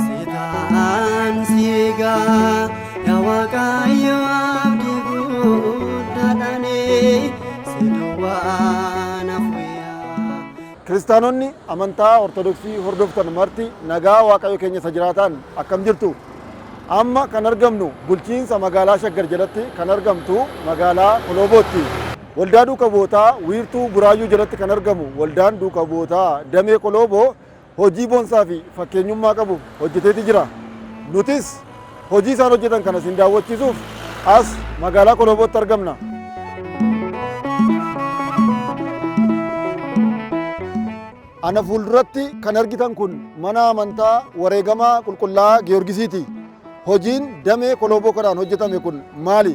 Obsitaan siigaa yaa waaqayyo abdi guddaadhaani si duwwaa na fuyyaa. Kiristaanonni amantaa Ortodoksii hordoftan marti nagaa Waaqayyo keenya isa jiraataan akkam jirtu? Amma kan argamnu bulchiinsa magaalaa Shaggar jalatti kan argamtu magaalaa Koloobootti. Waldaa Duuka Bu'ootaa wiirtuu Buraayyuu jalatti kan argamu Waldaan Duuka Bu'ootaa Damee Kolooboo hojii bonsaa fi fakkeenyummaa qabu hojjeteeti jira. Nutis hojii isaan hojjetan kana isin daawwachiisuuf as magaalaa Koloobootti argamna. Ana fuulduratti kan argitan kun mana amantaa wareegamaa qulqullaa'aa Giyoorgisiiti. Hojiin damee kolooboo kanaan hojjetame kun maali?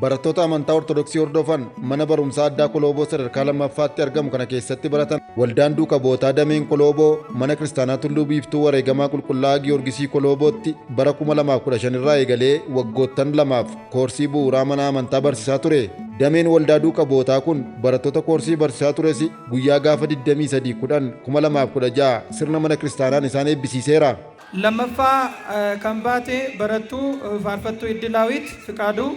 Barattoota amantaa Ortodoksii hordofan mana barumsaa addaa Kolooboo sadarkaa lammaffaatti argamu kana keessatti baratan waldaan duuka bu'ootaa dameen Kolooboo mana kiristaanaa Tulluu Biiftuu Wareegamaa Qulqullaa'aa Giyoorgisii Koloobootti bara 2015 irraa eegalee waggoottan lamaaf koorsii bu'uuraa mana amantaa barsiisaa ture. Dameen waldaa duuka bu'ootaa kun barattoota koorsii barsiisaa tures guyyaa gaafa 23 10 2016 sirna mana kiristaanaan isaan eebbisiiseera. 2ffaa kan baate barattuu Faarfattuu Iddilaawit Fiqaaduu.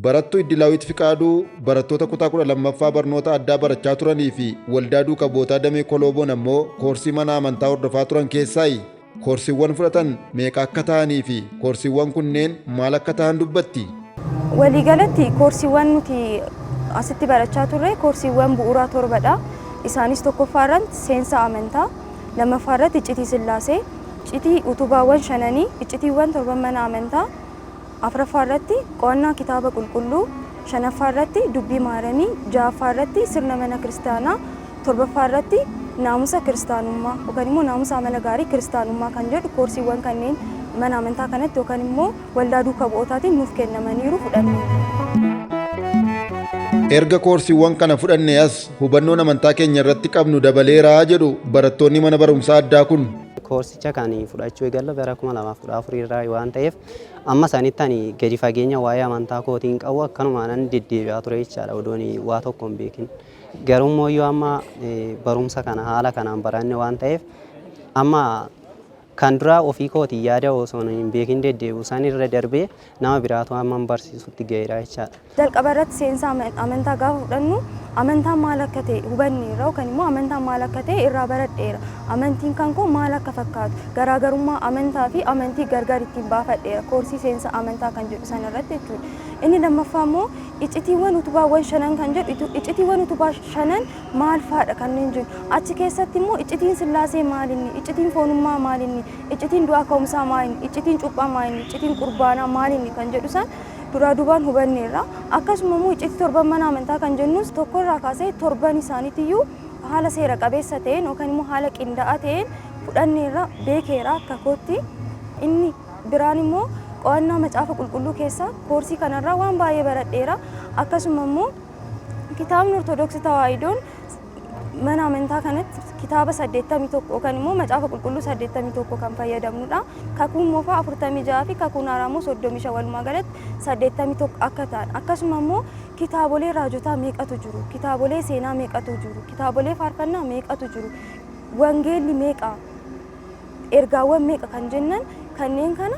Barattuu Iddilaawit Fiqaaduu barattoota kutaa 12ffaa barnoota addaa barachaa turanii fi Waldaa Duuka Bu'ootaa Damee Kolooboon ammoo koorsii mana amantaa hordofaa turan keessaayi. Koorsiiwwan fudhatan meeqa akka ta'anii fi koorsiiwwan kunneen maal akka ta'an dubbatti. Waliigalatti koorsiiwwan nuti asitti barachaa turre koorsiiwwan bu'uuraa torbadha. Isaanis tokkoffaa irratti seensa amantaa, lammaffaa irratti iccitii sillaasee, iccitii utubaawwan shananii, iccitiiwwan torban mana amantaa, afraffaarratti qo'annaa Kitaaba Qulqulluu, shanaffaarratti dubbii Maaramii, jahaffaarratti sirna mana kiristaanaa, torbaffaarratti naamusa kiristaanummaa yookan immoo naamusa amala gaarii kiristaanummaa kan jedhu koorsiiwwan kanneen mana amantaa kanatti yookan immoo waldaa duuka bu'ootaatiin nuuf kennamaniiru fudhanneerra. Erga koorsiiwwan kana fudhannee as hubannoon amantaa keenya irratti qabnu dabaleera jedhu barattoonni mana barumsaa addaa kun. Koorsicha kan fudhachuu eegalle bara 2014 irraa waan ta'eef Amma sanitti ani gadi fageenya waa'ee amantaa kootiin qabu akkanumaanan deddeebi'aa ture jechaadha odoon waa tokko hin beekin. Garuu immoo yoo amma barumsa kana haala kanaan baranne waan ta'eef amma kan duraa ofii kootiin yaada osoo hin beekin deddeebi'u san irra darbee nama biraatu amma barsiisutti ga'eera jechaadha. Jalqaba irratti seensa amantaa gaafa fudhannu amantaan maal akka ta'e hubanneerra yookaan immoo amantaan maal akka ta'e irraa baradheera. Amantiin kan koo maal akka fakkaatu garaagarummaa amantaa fi amantii gargar ittiin baafadheera koorsii seensa amantaa kan jedhu sana irratti jechuudha. Inni lammaffaa immoo icitiiwwan utubaawwan shanan kan jedhu icitiiwwan utubaa shanan maal faadha kanneen jiru. Achi keessatti immoo icitiin sillaasee maalinni, icitiin foonummaa maalinni, icitiin du'aa ka'umsaa maalinni, icitiin cuuphaa maalinni, icitiin qurbaanaa maalinni kan jedhu san duraa duubaan hubanneerra. Akkasuma immoo iccitii torban mana amantaa kan jennuus tokko irraa kaasee torban isaaniitiyyuu haala seera qabeessa ta'een yookaan immoo haala qindaa'aa ta'een fudhanneerra beekeera akka kootti. Inni biraan immoo qo'annaa macaafa qulqulluu keessaa koorsii kanarraa waan baay'ee baradheera. Akkasuma immoo kitaabni Ortodoksii Tawaahidoon Mana amantaa kanatti kitaaba 81 yookaan immoo macaafa qulqulluu 81 kan fayyadamnudha. Kakuun moofaa 46 fi kakuun haaraa immoo 35 walumaa galatti 81 akka ta'an akkasuma immoo kitaabolee raajotaa meeqatu jiru, kitaabolee seenaa meeqatu jiru, kitaabolee faarfannaa meeqatu jiru, wangeelli meeqa, ergaawwan meeqa kan jennan kanneen kana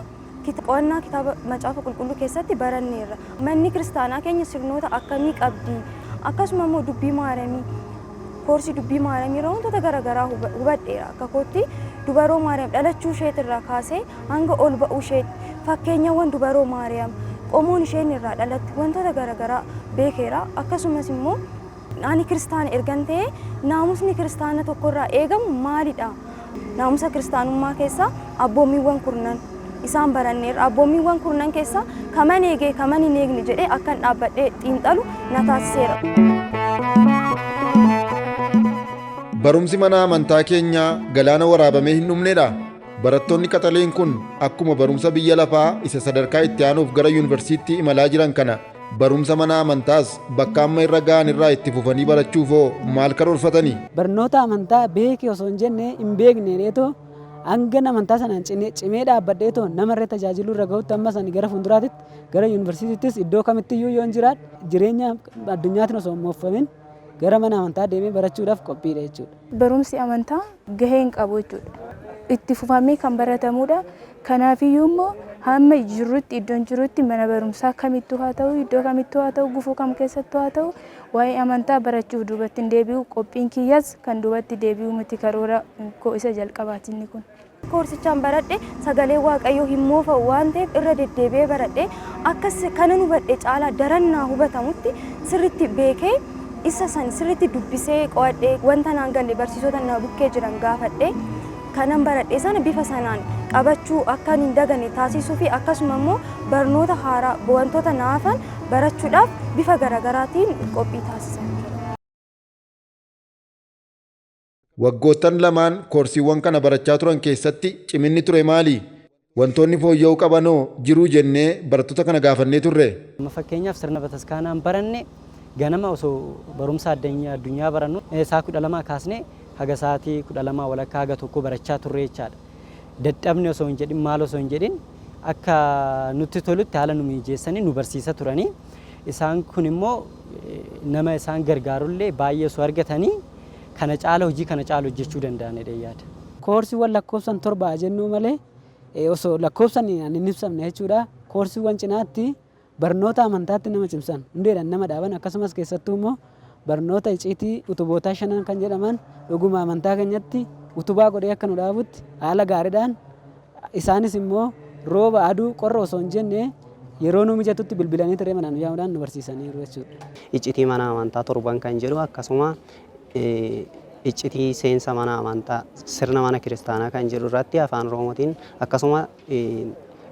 Qo'annaa kitaaba Macaafa Qulqulluu keessatti baranneerra. Manni kiristaanaa keenya sirnoota akkamii qabdi? Akkasuma immoo dubbii Maaramii, koorsii dubbii Maaramii irra wantoota garaagaraa hubadheera. Akka kootti dubaroo Maariyaam dhalachuu isheet irraa kaasee hanga ol ba'uu isheet fakkeenyawwan dubaroo Maariyaam qomoon isheen irraa dhalattu wantoota garaagaraa beekeera. Akkasumas immoo Ani Kiristaana ergan ta'ee naamusni Kiristaana tokkorraa eegamu maalidha? Naamusa Kiristaanummaa keessaa abboommiiwwan kurnan isaan baranneerra. Abboommiiwwan kurnan keessaa kaman eege kaman hin eegne jedhee akkan dhaabbadhee xiinxalu na taasiseera. Barumsi mana amantaa keenyaa galaana waraabamee hin dhumnedha. Barattoonni qaxaleen kun akkuma barumsa biyya lafaa isa sadarkaa itti aanuuf gara yunivarsiitii imalaa jiran kana Barumsa mana amantaas bakka amma irra ga'an irraa itti fufanii barachuuf hoo maal karoorfatani? Barnoota amantaa beeki osoo hin jenne hin beekne jedheetoo hangan amantaa sanaan cine- cimee dhaabbadheetoo nama irra tajaajiluu irra ga'utti ammas ani gara fuulduraatitti gara yuunivarsiitiittis iddoo kamittiyyuu yoon jiraadhe jireenya addunyaatiin osoo hin mooffamin Gara mana amantaa deemee barachuudhaaf qophiidha jechuudha. Barumsi amantaa gahee hin qabu jechuudha. Itti fufamee kan baratamuudha. Kanaafiyyuu immoo hamma jirrutti iddoon jirutti mana barumsaa kamittuu haa ta'u iddoo kamittuu haa ta'u gufuu kam keessattuu haa ta'u waa'ee amantaa barachuuf duubatti hin deebi'u qophiin kiyyas kan duubatti deebi'u miti karoora koo isa jalqabaati inni kun. koorsichaan baradhe sagaleen waaqayyoo hin moofa'u waan ta'eef irra deddeebi'ee baradhe akkas kanan hubadhe caalaa daran naa hubatamutti sirritti beekee isa san sirritti dubbisee qo'adhe wanta naan galle barsiisota na bukkee jiran gaafadhe kanan baradhe sana bifa sanaan qabachuu akkan hin daganne taasisuu fi akkasuma immoo barnoota haaraa wantoota naafan barachuudhaaf bifa garagaraatiin qophii taasisan jira. Waggoottan lamaan koorsiiwwan kana barachaa turan keessatti ciminni ture maali? Wantoonni fooyya'uu qaban hoo jiruu jennee barattoota kana gaafannee turre. Amma fakkeenyaaf sirna bataskaanaan baranne ganama osoo barumsa addunyaa barannu sa'a 12 kaasnee haga sa'aatii 12 walakkaa haga tokkoo barachaa turre jechaadha. Dadhabne osoo hin jedhin maal osoo hin jedhin akka nutti tolutti haala nu miijeessanii nu barsiisa turanii isaan kun immoo nama isaan gargaarullee baay'ee osoo argatanii kana caala hojii kana caalu hojjechuu danda'an jedheen yaada. Koorsiiwwan lakkoofsan torba haa jennuu malee osoo lakkoofsan hin ibsamne jechuudha. Koorsiiwwan cinaatti barnoota amantaatti nama cimsan, hundeedhaan nama dhaaban akkasumas keessattuu immoo barnoota iciitii utubootaa shanan kan jedhaman dhuguma amantaa keenyatti utubaa godhee akka nu dhaabutti haala gaariidhaan Isaanis immoo rooba, aduu, qorra osoo hin jenne yeroo nu mijatutti bilbilanii tiree manaa nu yaamuudhaan nu barsiisaniiru jechuudha. Iccitii mana amantaa torban kan jedhu akkasuma iccitii seensa mana amantaa sirna mana kiristaanaa kan jedhu irratti afaan oromootiin akkasuma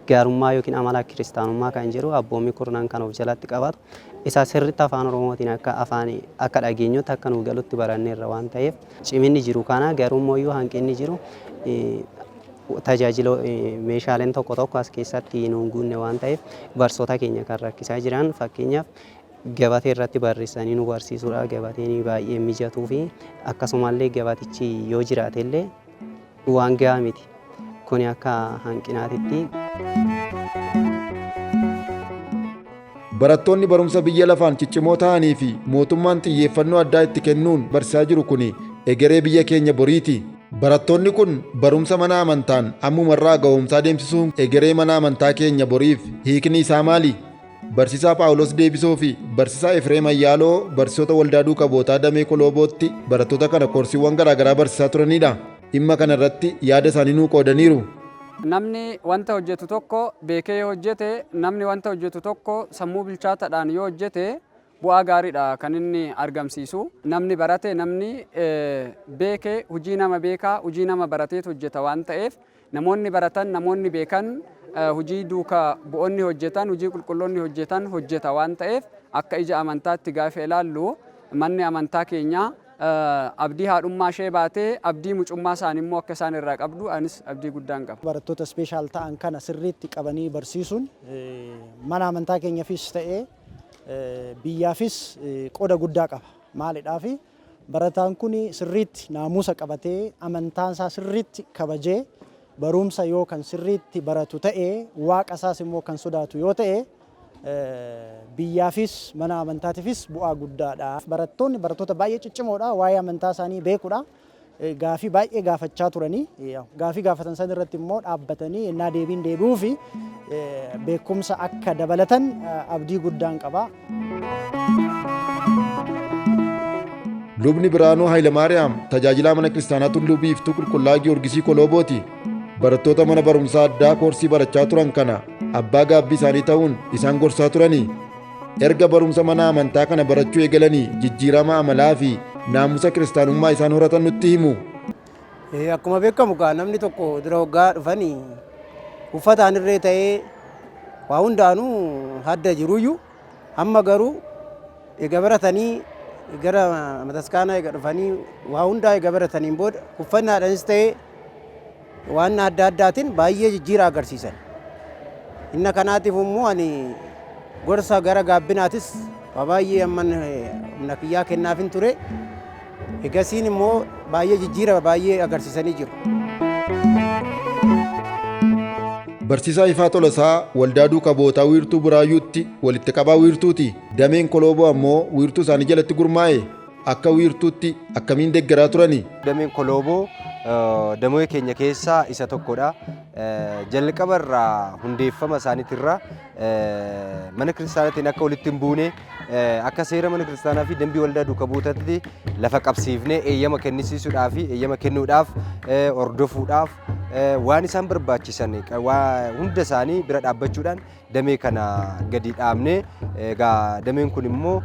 gaarummaa yookiin amala kiristaanummaa kan jedhu abboommii kurnan kan of jalatti qabatu. isaa sirriitti Afaan Oromootiin akka afaan akka dhageenyutti akka nuu galutti baranneerra waan ta'eef ciminni jiru kana garuu immoo hanqinni jiru tajaajila meeshaaleen tokko tokko as keessatti nuun guunne waan ta'eef barsoota keenya kan rakkisaa jiran fakkeenyaaf gabatee irratti barreessanii nu barsiisuudha gabateen baay'ee mijatuu fi akkasumallee gabatichi yoo jiraatellee Waan gahaa miti. Kuni akka hanqinaatitti. Barattoonni barumsa biyya lafaan ciccimoo ta'anii fi mootummaan xiyyeeffannoo addaa itti kennuun barsiisaa jiru kuni egeree biyya keenya boriiti. Barattoonni kun barumsa mana amantaan ammumarraa ga'oomsaa deemsisuun egeree mana amantaa keenya boriif hiikni isaa maali? Barsiisaa Phaawulos Deebisoo fi Barsiisaa Efreem Ayyaaloo barsiisota Waldaa Duuka Bu'ootaa Damee Koloobootti barattoota kana koorsiiwwan garaagaraa barsiisaa turaniidha. Dhimma kana irratti yaada isaanii nuu qoodaniiru. Namni wanta hojjetu tokko beekee yoo hojjete, namni wanta hojjetu tokko sammuu bilchaatadhaan yoo hojjete bu'aa gaariidha kan inni argamsiisu. Namni barate, namni beeke hujii nama beekaa, hujii nama barateetu hojjeta waan ta'eef Namoonni baratan, namoonni beekan, hujii duuka bu'onni hojjetan, hujii qulqulloonni hojjetan hojjeta waan ta'eef akka ija amantaatti gaafa ilaallu manni amantaa keenya abdii haadhummaa ishee baatee abdii mucummaa isaani immoo akka isaan irraa qabdu anis abdii guddaan qaba. Barattoota special ta'an kana sirriitti qabanii barsiisuun mana amantaa keenyafis ta'ee biyyaafis qoda guddaa qaba. Maalidhaafi? Barataan kun sirriitti naamusa qabatee, amantaa isaa sirriitti kabajee, baruumsa yoo kan sirriitti baratu ta'e, Waaqa isaas immoo kan sodaatu yoo ta'e, biyyaafis, mana amantaatiifis bu'aa guddaadha. Barattoonni barattoota baay'ee ciccimoodha, waa'ee amantaa isaanii beekudha. gaafii baay'ee gaafachaa turanii gaafii gaafatan san irratti immoo dhaabbatanii ennaa deebiin deebi'uufi beekumsa akka dabalatan abdii guddaan qaba. Lubni Biraanuu Hayilamaariyaam tajaajilaa mana kiristaanaa Tulluu Biiftuu Qulqullaa Giyoorgisii Koloobooti. Barattoota mana barumsaa addaa koorsii barachaa turan kana abbaa gaabbii isaanii ta'uun isaan gorsaa turani. Erga barumsa mana amantaa kana barachuu eegalanii jijjiirama amalaa fi naamusa kiristaanummaa isaan horatan nutti himu. Eh, Akkuma beekamu kaa namni tokko dura waggaa dhufanii uffataan irree ta'ee waa hundaanuu hadda jiruyyuu amma garuu egaa baratanii gara mataskaanaa egaa dhufanii waa hundaa egaa barataniin booda uffannaadhaanis ta'ee Waan adda addaatiin baay'ee jijjiira agarsiisan. Inna kanaatiif immoo ani gorsa gara gaabbinaatis waa baay'ee amman humna kiyyaa kennaafin ture. Egasiin immoo baay'ee jijjiira baay'ee agarsiisanii jiru. Barsiisaa Ifaa Tolasaa Waldaa Duuka Bu'ootaa Wiirtuu Buraayyuutti walitti qabaa wiirtuuti. Dameen Kolooboo ammoo wiirtuu isaanii jalatti gurmaa'e. Akka wiirtuutti akkamiin deggeraa turani? Dameen Kolooboo damoee keenya keessaa isa tokkodha. Jalqaba irraa hundeeffama isaaniitirra mana kiristaanaatiin akka walitti hin buune akka seera mana kiristaanaa fi dambii waldaa duuka buutatti lafa qabsiifnee eeyyama kennisiisuudhaa fi eeyyama kennuudhaaf hordofuudhaaf waan isaan barbaachisan hunda isaanii bira dhaabbachuudhaan damee kana gadi dhaabnee egaa dameen kun immoo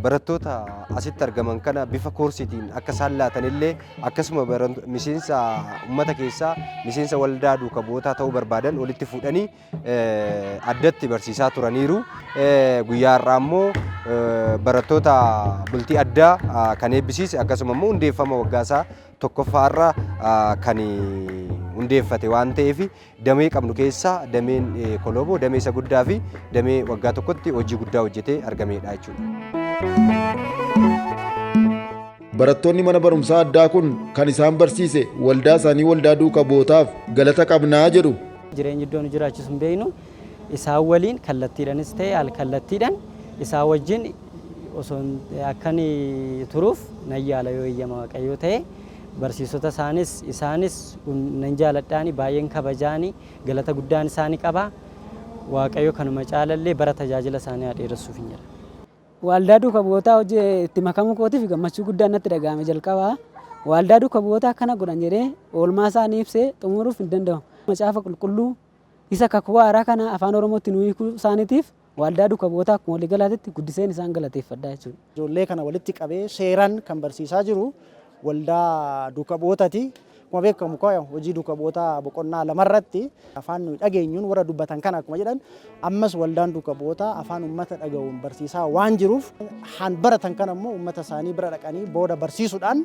barattoota asitti argaman kana bifa koorsiitiin akka isaan laatan illee akkasuma miseensa uummata keessaa miseensa waldaa duuka bu'ootaa ta'uu barbaadan walitti fuudhanii addatti barsiisaa turaniiru. Guyyaa har'aa immoo barattoota bultii addaa kan eebbisiise akkasuma immoo hundeeffama waggaasaa tokkoffaa irra kan hundeeffate waan ta'eef Damee qabnu keessaa dameen Kolooboo damee isa guddaa fi damee waggaa tokkotti hojii guddaa hojjetee argameedha jechuudha. Barattoonni mana barumsaa addaa kun kan isaan barsiise waldaa isaanii waldaa duuka bu'ootaaf galata qabnaa jedhu. Jireenyi iddoo nu jiraachisu hin beeknu isaan waliin kallattiidhanis ta'e al kallattiidhaan isaa wajjin osoo akkan turuuf nan yaala yoo eeyyama waaqayyoo ta'e. Barsiisota isaanis isaanis nan jaaladhaani baay'een kabajaani galata guddaan isaani qaba. Waaqayyo kanuma caalallee bara tajaajila isaanii haa dheeressuufin jedha. Waaldaa Duuka Bu'ootaa hojii itti makamuu kootiif gammachuu guddaan natti dhaga'ame jalqaba waaldaa duuka bu'ootaa akkana godhan jedhee oolmaa isaanii ibsee xumuruuf hin danda'u. Macaafa Qulqulluu isa kakuu haaraa kana afaan Oromootti nuu hiikuu isaaniitiif Waaldaa Duuka Bu'ootaa akkuma waliigalaatitti guddiseen isaan galateeffadha jechuudha. Ijoollee kana walitti qabee seeraan kan barsiisaa jiru Waldaa Duuka Bu'ootati. Akkuma beekamu kaa hojii Duuka Bu'ootaa boqonnaa lama irratti afaan nuyi dhageenyuun warra dubbatan kana akkuma jedhan ammas Waldaan Duuka Bu'ootaa afaan uummata dhaga'uun barsiisaa waan jiruuf haan baratan kana immoo uummata isaanii bira dhaqanii booda barsiisuudhaan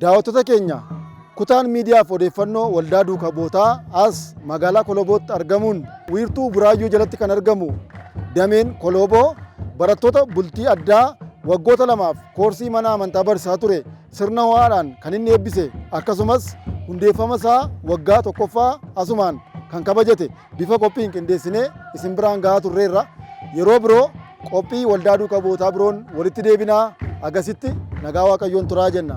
Daawattoota keenya kutaan miidiyaaf odeeffannoo waldaa duuka bootaa as magaalaa Kolobootti argamuun wiirtuu Buraayyuu jalatti kan argamu dameen Kolooboo barattoota bultii addaa waggoota lamaaf koorsii mana amantaa barsiisaa ture sirna ho'aadhaan kan inni eebbise akkasumas hundeeffama isaa waggaa tokkoffaa asumaan kan kabajate Bifa qophiin qindeessinee isin biraan gahaa turreerra. Yeroo biroo qophii waldaa duuka bu'ootaa biroon walitti deebinaa agasitti nagaa waaqayyoon turaa jenna.